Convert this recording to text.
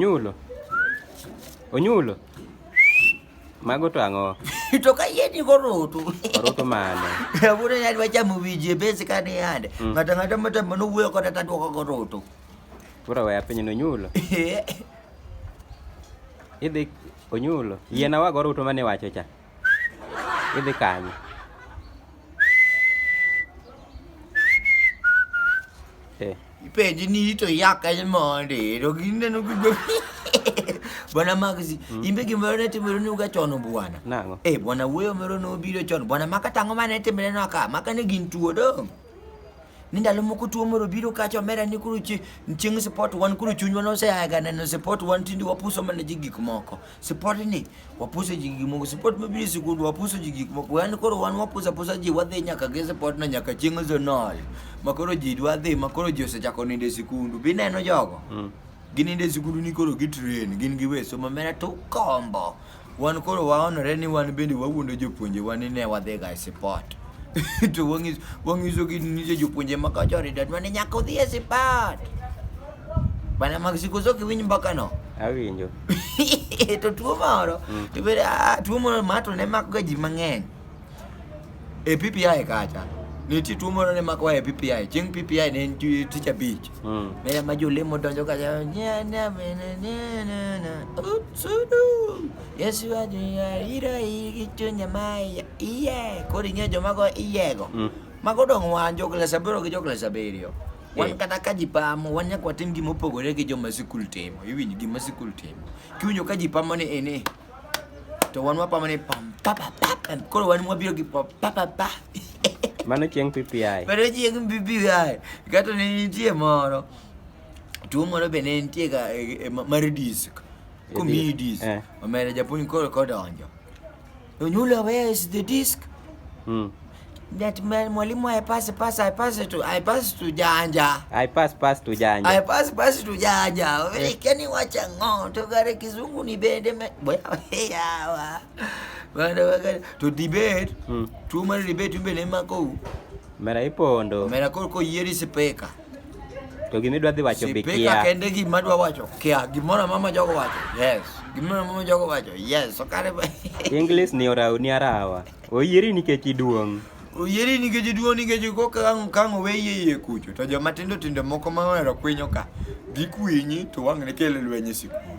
Onyulo. Onyulo. Mago to ang'o? to ka yie ni koroto. Koroto mane? Aburo ni adwa chamo winji e base ka ni yande. Mm. Ng'ato ng'ato mata mano wuoyo koda ta dwoko koroto. Koro waya piny no nyulo. Idhi onyulo. Yiena wago ruto mane wacho cha. Idhi kanye? Eh. Ipenji ni ito yak aja monde, to ginde no gigo. Bwana Magzi, mm. imbe gimoro ne timore ni uga chono bwana. Nang'o? Eh, bwana wuoyo moro no biro chono. Bwana maka tango mane timore no aka, maka ne gin tuo do. ni ndalo moko tuo moro biro kacha omera ni kuru chieng' sport wan kuru chunywa noseaga neno sport wan tindi wapuso mana ji gik moko sport ni wapuso ji gik moko sport mabiro e sikund wapuso ji gik moko wan koro wan wapuso apusa ji wadhi nyaka gi sport no nyaka chieng' zonol ma koro ji dwa dhi ma koro ji osechako nindo e sikundu bineno jogo mm. ginindo e sikundu ni koro gitrain gin giwe somo mera to ukombo Wan koro waonore ni wan bende wawuondo jopuonjewa ni ne wadhiga e sipot. to wang'iso wang'iso gi nyiso jopuonje ma kacha ridat mane nyaka odhi e sipat bana mag siko so kiwinj mbaka no awinjo to tuo moro to bende ah, tuo moro ma to ne makga ji mang'eny e PPI kacha nitie tuo moro ne makowa e PPI chieng' PPI ne en ju- tich abich Mm. ne ma jolemo donjo ka ja- nya- nya- me- ne- ne- ne- ne. Utsudu. Yesu ajuya iro igi chunya maya iye koro ing'eyo joma go iyego Mm. mago dong' wan jo klas aboro gi jo klas abiriyo wan Eh. kata ka ji pamo wan nyaka watim gima opogore gi joma sikul timo iwinj gima sikul timo kiwinjo ka ji pamo ni ini to wan wapa mane pam papa pap em, koro wan mwabiro gi pam papa pa Mano chieng' PPI. pero chieng' bibi ai kato ne nitie moro tuo moro be ne nitie ga e- e- ma- mar disk komiyi disk Eh. omera japuonj koro kodonjo onyula where is the disk Mm. That man, mwalimu I pass pass I pass to I pass to janja. I pass pass to janja. I pass pass to janja. Wewe eh. kani wacha ngo togare kizungu ni bende me. Boya yawa. Bana wakati to debate. Hmm. Tu mara debate mbele mako. Mera ipo ndo. Mera koko yeri sipeka. To gimi dwa dhi wacho bikia. Sipeka kende gima dwa wacho. Kia gimora mama jogo wacho. Yes. Gimora mama jogo wacho. Yes. So kare. English ni ora ni arawa. Oyieri nikech iduong'. Oyieri nikech iduong' nikech kokang' kang' oweyi e iye kucho to joma tindo tindo moko ma ohero kwinyo ka gikwinyi to wang'ne kelo lweny e sikul.